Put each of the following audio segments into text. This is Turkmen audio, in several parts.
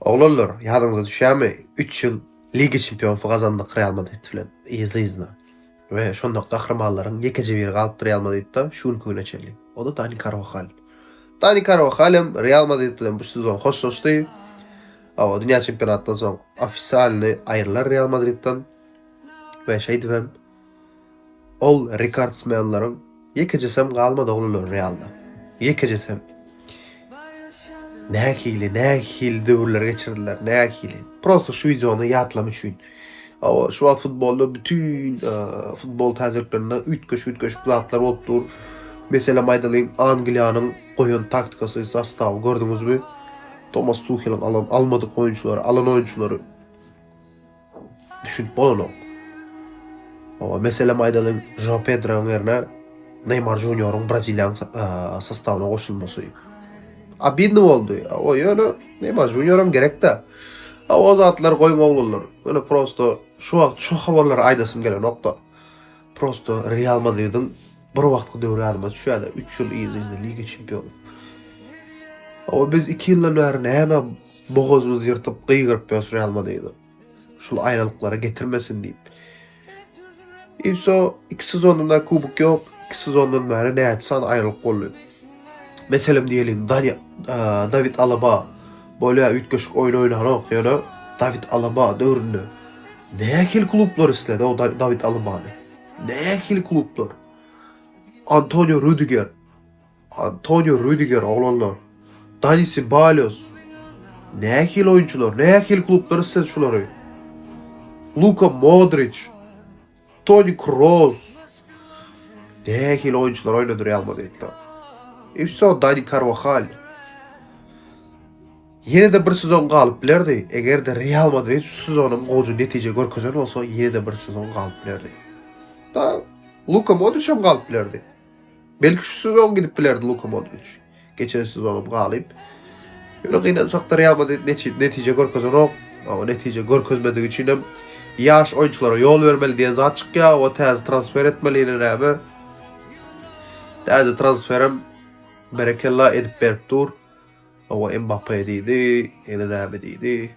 Oglanlar, ýadyňyza düşýärmi, üç ýyl Liga çempionsy gazandyk Real Madrid bilen yzly-yzyna we şonda gahrymanlaryň ýekeje biri galypdy Real Madridde şu günki güne çenli. O-da Dani Karwahal. Dani Karwahal hem Real Madrid bilen bu sezon hoşlaşdy. Hawa, dünýä çempionatyndan soň ofisialny aýrylar Real Madridden we şeýdibem Ol rekordsmenleriň ýekejesem galmady oglanlar Realda. Ýekejesem. Nähili, nähili döwürler geçirdiler, nähili. Prosta şu wideony ýatlam üçin. Awa, şu wagt futbolda bütün e, futbol täjirliklerinde üýtgeş-üýtgeşik zatlar bolup dur. Meselem aýdalyň, Angliýanyň goýan taktikasy, sostawy gördüňizmi? Tomas Tuheliň alan almadyk oýunçylary, alan oýunçylary Düşünip bolanok. Oba meselem aýdalyň, Joao Pedroň ýerine Neýmar Junioryň Braziliýanyň sostawyna goşulmasy. Abidny boldy. O ýöne Neýmar Junioram gerekde. Ha o zatlar goýuň oglanlar. Ýöne prosto şu wagt şu habarlary aýdasym gelenokda. Prosto Real Madridiň bir wagtky döwri ýadyma düşýär-de, 3 ýyl yz-yzyna Liga çempiony. Awa biz 2 ýyldan bäri näme bogazymyzy ýyrtyp gygyryp ýörüs Real Madridi. Şul aýralyklara getirmesin diýip. Ipso 2 sezonda kubok ýok, 2 sezondan bäri näçe sany aýralyk boldy. Meselem diýeliň, Dani, David Alaba Bolýa üýtgeşik oýun oýnanok ýöne Dawid Alaba döwründe nähili klublar isledi o Dawid Alabany. Nähili klublar. Antonio Rudiger. Antonio Rudiger oglanlar. Dani Ceballos. Nähili oýunçylar, nähili klublar isledi şulary. Luka Modric. Toni Kroos. Nähili oýunçylar oýnadyr Real Madridde. E wso Dani Carvajal. Ýene-de bir sezon galyp bilerdi. Eger-de Real Madrid şu sezonyň gowy netije görkezen bolsa, ýene-de bir sezon galyp bilerdi. Da Luka Modriç hem galyp bilerdi. Belki şu sezon gidip bilerdi Luka Modric. Geçen sezonum galyp. Ýöne gynansak-da Real Madrid netije görkezenok. Ama netije görkezmedigi üçin hem ýaş oýunçylara ýol bermeli diýen zat çykýar. O täze transfer etmeli ýene näme? Täze transferim berekella edip berip dur. O Mbappe diýdi, ýene näme diýdi?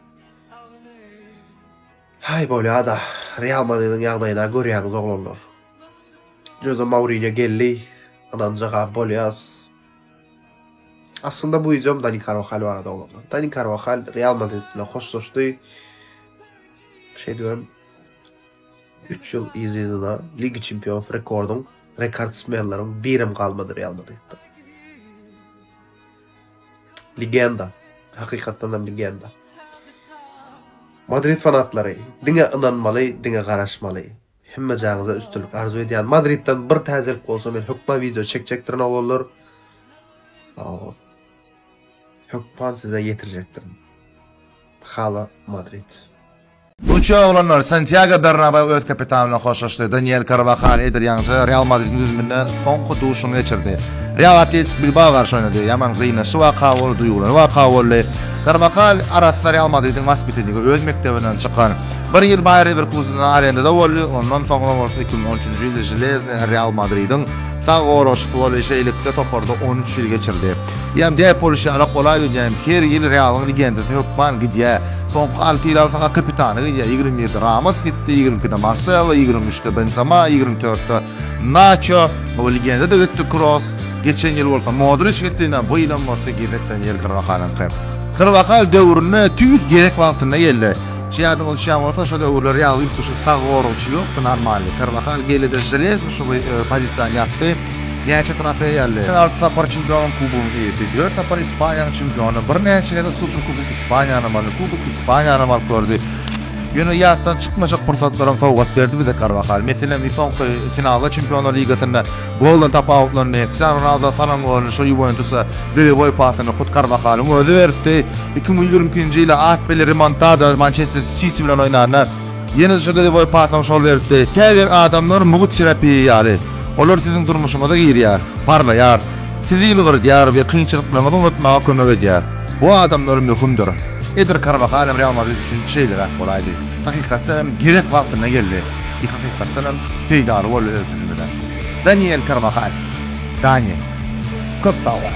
Haý bolýada Real Madridiň ýagdaýyna görýäňiz oglanlar. Joze Mourinýo geldi ynanja gaby bolýas. Aslynda bu wideom Dani Karwahal barada oglanlar. Dani Karwahal Real Madrid bilen hoşlaşdy. Şeýdibem 3 ýyl yz-yzyna Liga Çempionlar rekordyň rekordsmenleriň birem galmady Real Madridde. Legenda. Hakykatdan hem legenda. Madrid fanatlary, diňe ynanmaly, diňe garaşmaly. Hemme jaňyza üstünlik arzuw edýän. Madridden bir täzelik bolsa men hökman video çekjekdirin oglanlar. Aw. Hökman size ýetirjekdirin. Hala Madrid. Bu üç oglanlar Santýago Bernabeu öz kapitany bilen hoşlaşdy. Daniel Karwahal eder ýaňyja Real Madridiň düzüminde soňky duşuşygyny geçirdi. Real Atletik Bilbao garşy oýnady. Ýaman gynançly waka boldy, duýgurly waka boldy. Karwahal arassa Real Madridiň waspitanygy, öz mekdebinden çykan. Bir ýyl Baýer Lewerkusende arendada boldy, ondan soňra bolsa iki müň on üçünji ýylda Železnýa Real Madridiň sag goragçysy boldy, şeýlelikde toparda on üç ýyl geçirdi. Ýam däp boluşy ýaly golaýgidýän her ýyl Realyň legendasy hökman gidýär. Soňky alty ýyl alsaň-a kapitany gidýär. Ýigrimi birde Ramos gitdi, ýigrimi ikide Marselo, ýigrimi üçde Benzema, ýigrimi dörtde Naço, bu legenda-da gitdi Kroos, geçen ýyl bolsa Modriç gitdi, ine bu ýylam bolsa gezek bilen ýer Karwahaliňky. Karwahal döwrüne tüýs gerek wagtynda geldi. Şo ýadyňyza düşýän bolsa şo döwürler Realda ýüptüşik sag goragçy ýokdy normalny. Karwahal geldi-de železny şo bir pozisiýany ýapdy. Näçe trofeý ýaly? Men alty sapar çempionyň kubogynyň eýesi, dört sapar Ispaniýanyň çempiony, birnäçe gezek Superkubok Ispaniýanyň maly, Kubok Ispaniýanam alyp gördi. Ýöne ýatdan çykmaýjak pursatlaram sowgat berdi bize Karwahal. Meselem, bir soňky finalda Çempionlar ligasynda goldan tapawutlandy. Kriştianu Ronaldo salan golyny şo Ýuwentusa golewoý pasyny hut Karwahalyň özi beripdi. Iki müň ýigrimi ikinji ýyl Atbeli Remontada Mançester Siti bilen oýnanda, Ýene-de şu diliboý pasaň şol beripdi. Käbir adamlar mugt çirepiý ýaly. Olar siziň durmuşyňyza girýär, parlaýar, sizi ýylgyrdýar we kynçylyklaryňyzy unutmaga kömek edýär. Bu adamlar möhümdir. Eder Karwahal hem Real Madrid üçin şeýleräk bolaýdy. Hakykatdan hem gerek wagtynda geldi. Ýe hakykatdan hem peýdaly boldy öz düzümine. Daniel Karwahal. Dani. Köp sag bol.